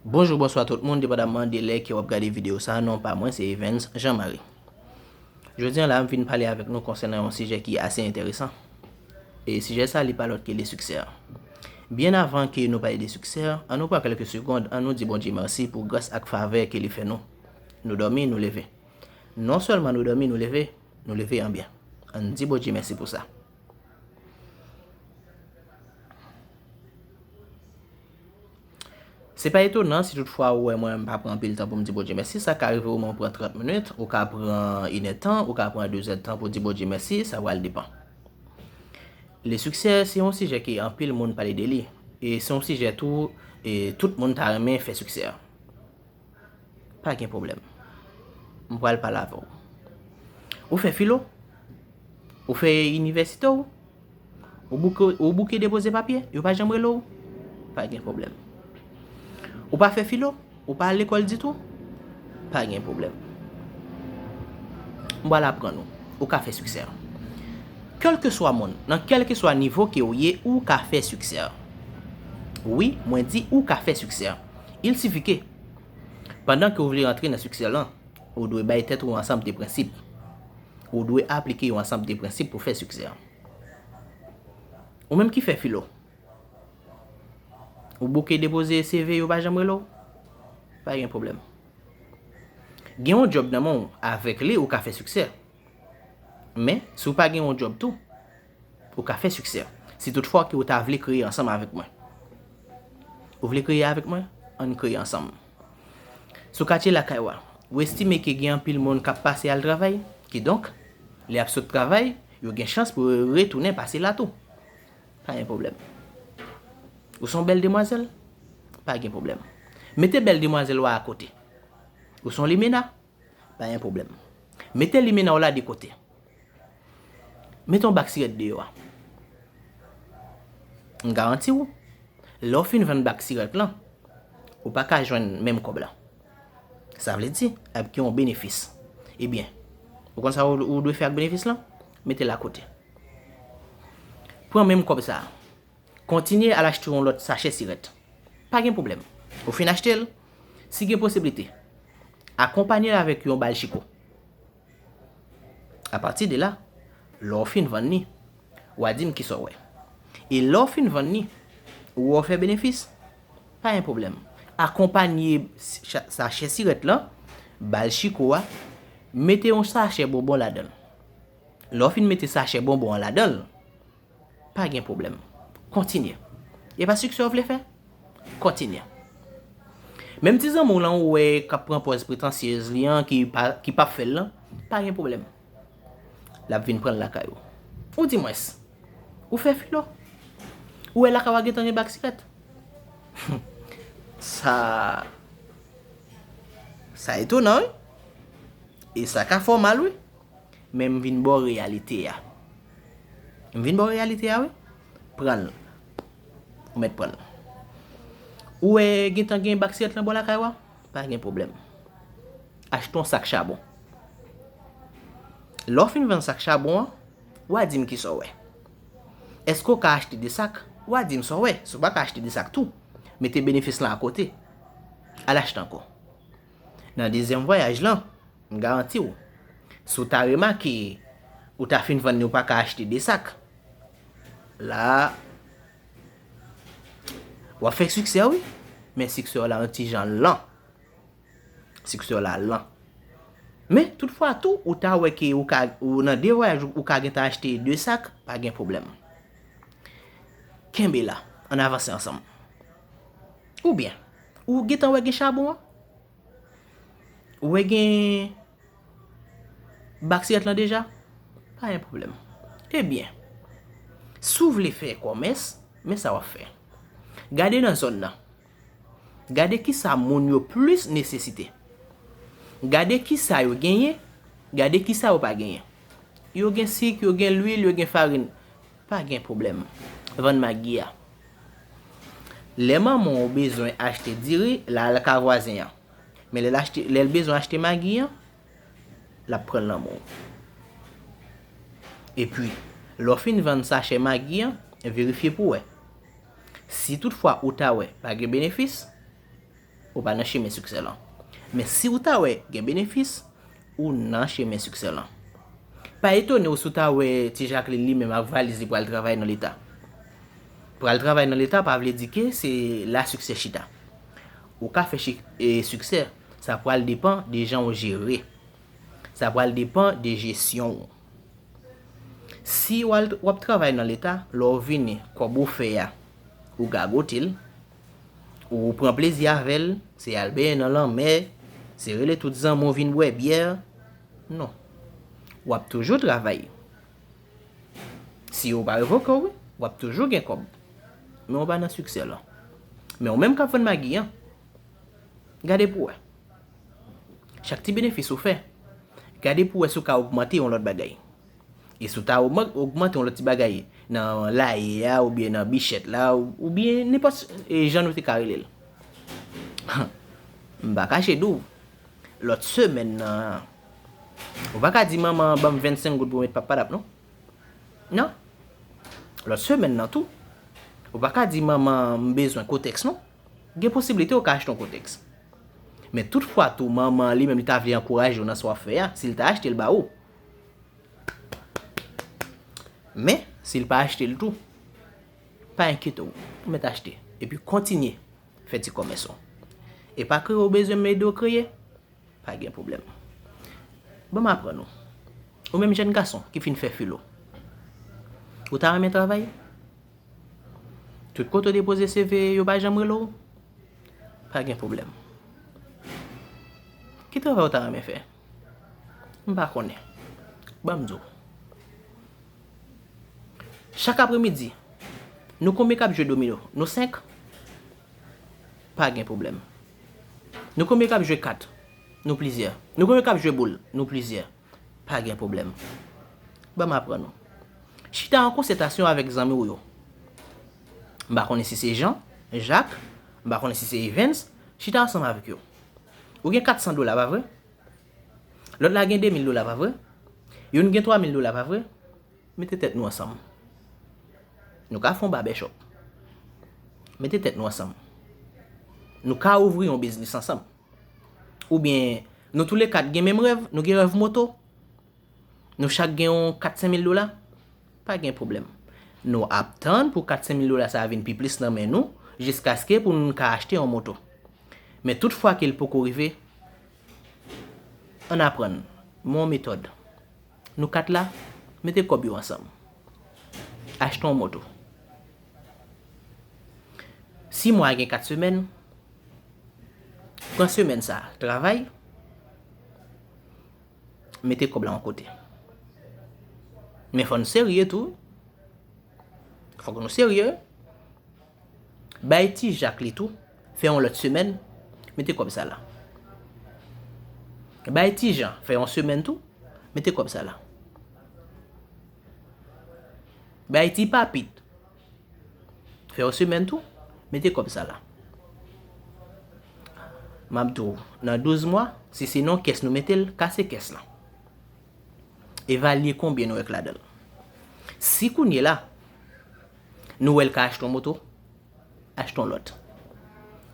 Bonjou bonswa tout moun depandaman de lè ke wap gade video sa non pa mwen se Evens Jean Marie Jodi an la m vin pale avèk nou konsènan yon sijè ki ase entèresan e sijè sa li pa lòt ke de siksè Byen avan ke nou pale de siksè an nou pran kèlke segond an nou di Bondye mèsi pou gras ak favè ke li fè nou Nou dòmi nou leve non sèlman nou dòmi nou leve nou leve an byen an di Bondye mèsi pou sa. Se pa etonan si tout fwa ou wè mwen m pa pran anpil tan pou m di Bondye mèsi. Sa ka rive ou menm ou pran 30 minit, ou ka pran inèdtan, ou ka pran dezèdtan pou di Bondye mèsi, sa pral depan. Le siksè se yon sijè ke anpil moun pale de li. E se yon sijè tou, tout moun ta renmen fè siksè. Pa gen pwoblèm. M pral pale avè w. Ou fè filo? Ou fè inivèsite w? Ou bouke depoze papye? Yo pa janm rele w? Pa gen pwoblèm. Ou pa fè filo? Ou pa al lekòl ditou? Pa gen pwoblèm. M pral aprann ou. Ou ka fè siksè. Kèlkeswa moun, nan kèlkeswa nivo ke ou ye, ou ka fè siksè. Wi, mwen di ou ka fè siksè. Il sifi ke, pandan ke ou vle antre nan siksè lan, ou dwe bay tèt ou yon ansanb de prensip. Ou dwe aplike yon ansanb de prensip pou fè siksè an. Ou menm ki fè filo, ou bouke depoze CV yo pa janm rele w? Pa gen pwoblèm. Gen yon djòb nan men w, avèk li ou ka fè siksè. Men, si ou pa gen yon djòb tou, ou ka fè siksè. Si tout fwa ke ou ta vle kreye ansanm avèk mwen. Ou vle kreye avèk mwen? An n kreye ansanm. Sou katye lakay ou a, ou estime ke gen anpil moun k ap pase al travay? Kidonk, lè y ap sot travay, yo gen chans pou yo retounen pase la tou. Pa gen pwoblèm. Ou se yon bèl demwazèl? Pa gen pwoblèm. Mete bèl demwazèl ou a akote. Ou se yon limena? Pa gen pwoblèm. Mete limena w la de kote. Mete yon bak sirèt deyò a. M garanti w, lè w fin vann bak sirèt lan, ou pa ka jwenn menm kòb la. Sa vle di, ap gen yon benefis. Ebyen, ou konn sa ou dwe fè ak benefis lan? Mete l akote. Pran menm kòb sa a. Kontinye al achte yon lòt sachè sirèt. Pa gen pwoblèm. Ou fin achte l, si gen posiblite, akonpanye l avèk yon bal chiko. Apati de la, lè w fin vann li, w a di m ki sa w wè. E lè w fin vann li, ou wè w fè benefis, pa gen pwoblèm. Akonpanye sachè sirèt lan, bal chiko a, mete yon sachè bonbon ladan l. Lè w fin mete sachè bonbon an ladan l, Pa gen pwoblèm. Kontinye. E pa siksè w vle fè? Kontinye. Menm ti zanmi w lan ou wè k ap pran pòz pretansyez li an ki pap fè l lan, pa gen pwoblèm. L ap vin pran l lakay ou. Ou di mwens. Ou fè filo. Ou wè lakay ou a gen tan gen bak sikèt. Sa Sa etonan wi. E sa ka fè w mal wi. Men m vin ba w reyalite a. M vin ba w reyalite a wi. Pran l. Ou mèt pran l. Ou wè gen tan gen bak sirèt lan bò lakay ou a? Pa gen pwoblèm. Achte yon sak chabon. Lè w fin vann sak chabon an, w a di m ki sa w wè. Èske w ka achte de sak? W a di m sa w wè. Si w pa ka achte de sak tou, mete benefis lan akote. Al achte ankò. Nan dezyèm vwayaj lan, m garanti w, si w ta remake ou ta fin vann ni w pa ka achte 2 sak, la a, w ap fè siksè wi, men siksè w la yon ti jan lan. Siksè w la lan. Men, tout fwa tou, ou ta wè ke ou ka, ou nan 2 vwayaj ou ka gentan achte 2 sak, pa gen pwoblèm. Kenbe la, ann avanse ansanm. Ou byen, ou gentan wè gen chabon an? Ou wè gen bak siyèt lan deja? Pa gen pwoblèm. E byen, si w vle fè kòmès, men sa w ap fè. Gade nan zòn nan. Gade ki sa moun yo plis nesesite. Gade ki sa yo genyen, gade ki sa yo pa genyen. Yo gen sik, yo gen lwil, yo gen farin. Pa gen pwoblèm. Vann Magi a. Lè manman w bezwen achte diri, l al ka vwazen an. Men lè l achte, lè l bezwen achte Magi an, l ap pran l nan men w. Epi, lè w fin vann sachè Magi an, verifye pou w wè. Si toutfwa ou ta wè pa gen benefis, Ou pa nan chemen siksè lan. Men si ou ta wè gen benefis, ou nan chemen siksè lan. Pa etone ou si ou ta wè ti Jacqueline li menm ak valiz li pral travay nan leta. Pral travay nan leta pa vle di ke se la siksè chita. Ou ka fè siksè, sa pral depan de jan ou jere. Sa pral depan de jesyon ou. Si ou al, ou ap travay nan leta, lè ou vini, kòb ou fè a, ou gagote l. Ou pran plezi avè l, se al benyen nan lanmè, se rele tout zanmi w vin bwè byè. Non. W ap toujou travay. Si yo pa revoke w wi, w ap toujou gen kòb. Men ou pa nan siksè lan. Men ou menm k ap vann magi an, gade pou wè. Chak ti benefis ou fè, gade pou wè si w ka ogmante yon lòt bagay. E si w ta ogmante yon lòt ti bagay nan laye a oubyen nan bichèt la oubyen nenpòt jan nou te ka rele l. M pa kache di w, lòt semèn nan, ou pa ka di manman an ban m 25 goud pou m met Pappadap non. Non. Lòt semèn nan tou, ou pa ka di manman an m bezwen kotèks non. Gen posiblite ou ka achte yon kotèks. Men tout fwa tou manman an li menm li ta vle ankouraje w nan sa w ap fè a, si l ta achte l ba ou, Men, si l pa achte l tou, pa enkyete w, ou mèt achte epi kontinye fè ti kòmès ou. E pa kreye w bezwen m ede w kreye, pa gen pwoblèm. Ban m aprann ou, ou menm jèn gason ki fin fè filo, ou ta renmen travay? Tout kote w depoze CV yo pa janm rele w? Pa gen pwoblèm. Ki travay ou ta renmen fè? M pa konnen. Ban m di w. Chak apremidi, nou konbyen k ap jwe domino? Nou senk? Pa gen pwoblèm. Nou konbyen k ap jwe kat? Nou plizyè. Nou konbyen k ap jwe boul? Nou plizyè. Pa gen pwoblèm. Ban m aprann ou. Chita an konsetasyon avèk zanmi w yo. M pa konnen si se Jan, Jak, m pa konnen si se Evens, chita ansanm avèk yo. Ou gen 400 dola, pa vre? Lòt la gen 2000 dola, pa vre? Youn gen 3000 dola, pa vre? Mete tèt nou ansanm. Nou ka fè yon babèchòp. Mete tèt nou ansanm. Nou ka ouvri yon biznis ansanm. Oubyen, nou toule kat gen menm rèv, nou gen rèv moto. Nou chak gen yon 4-5 mil dola. Pa gen pwoblèm. Nou ap tann pou 400 mil dola sa a vin pi plis nan men nou jiskaske pou nou ka achte yon moto. Men tout fwa ke l poko rive, ann aprann mwen yon metòd. Nou 4 la, mete kòb yo ansanm. Achte yon moto. Si mwa a gen 4 semèn, pran semèn sa a travay. mete kòb la yon kote. Men fò n serye tou, fòk nou serye. Bay ti jak li tou, fè yon lòt semèn, mete kòb sa la. Bay ti jan, fè yon semèn tou, mete kòb sa la. Bay ti papit, Fè yon semèn tou, mete kòb sa la. Map di w, nan 12 mwa, si se nan yon kès nou mete l, kase kès lan. Evalye konbyen nou wè k ladan l. Si kounye la, nou wè l ka achte yon moto, achte yon lòt.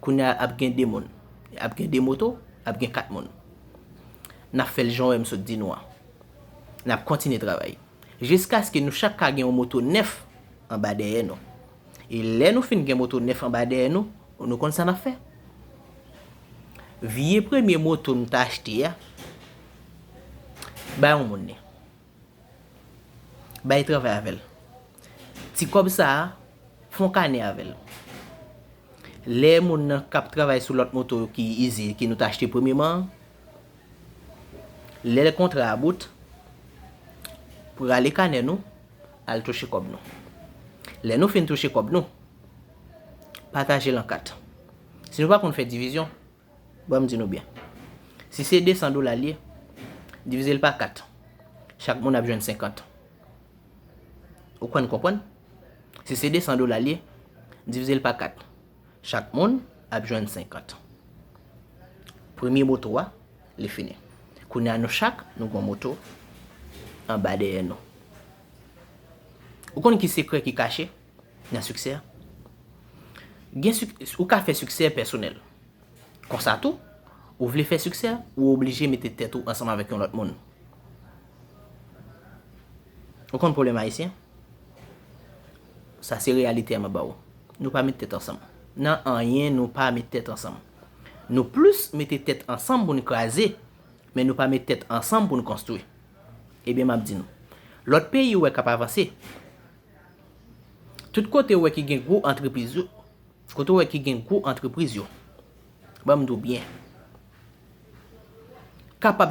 Kounye a ap gen 2 moun, ap gen 2 moto, ap gen 4 moun. Nap fè l jan wè m sot di nou an. Nap kontinye travay. jiskaske nou chak ka gen yon moto nèf anba dèyè nou. E lè nou fin gen moto nèf anba dèyè nou, nou konn sa n ap fè? Vye premye moto nou ta achte a, bay yon moun li. Bay travay avè l. Ti kòb sa a, fè yon kanè avè l. Lè moun nan k ap travay sou lòt moto ki ize, ki nou ta achte premyeman an, Lè kontra a bout, pou rale kanè nou, al touche kòb nou. Lè nou fin touche kòb nou, pataje l an 4. Si nou pa konn fè divizyon, ban m di nou byen. Si se 200 dola l ye, divize l pa 4. Chak moun ap jwenn 50. Ou konn konprann? Si se 200 dola l ye, divize l pa 4. Chak moun ap jwenn 50. Premye moto a, li fini. Kounye a nou chak, nou gon moto anba dèyè nou. Ou konn ki sekrè ki kache nan siksè a? Gen sik, ou ka fè siksè pèsonèl. Konsa tou, ou vle fè siksè, ou oblije mete tèt ou ansanm avèk yon lòt moun. Ou konn pwoblèm Ayisyen? Sa se reyalite a map ba ou. Nou pa met tèt ansanm. Nan anyen nou pa met tèt ansanm. Nou plis mete tèt ansanm pou n kraze, men nou pa met tèt ansanm pou n konstwi. Ebyen map di nou. Lòt peyi ou wè kap avanse, tout kote ou wè ki gen gwo antrepriz yo, kote ou wè ki gen gwo antrepriz yo, banm di w byen, kapab.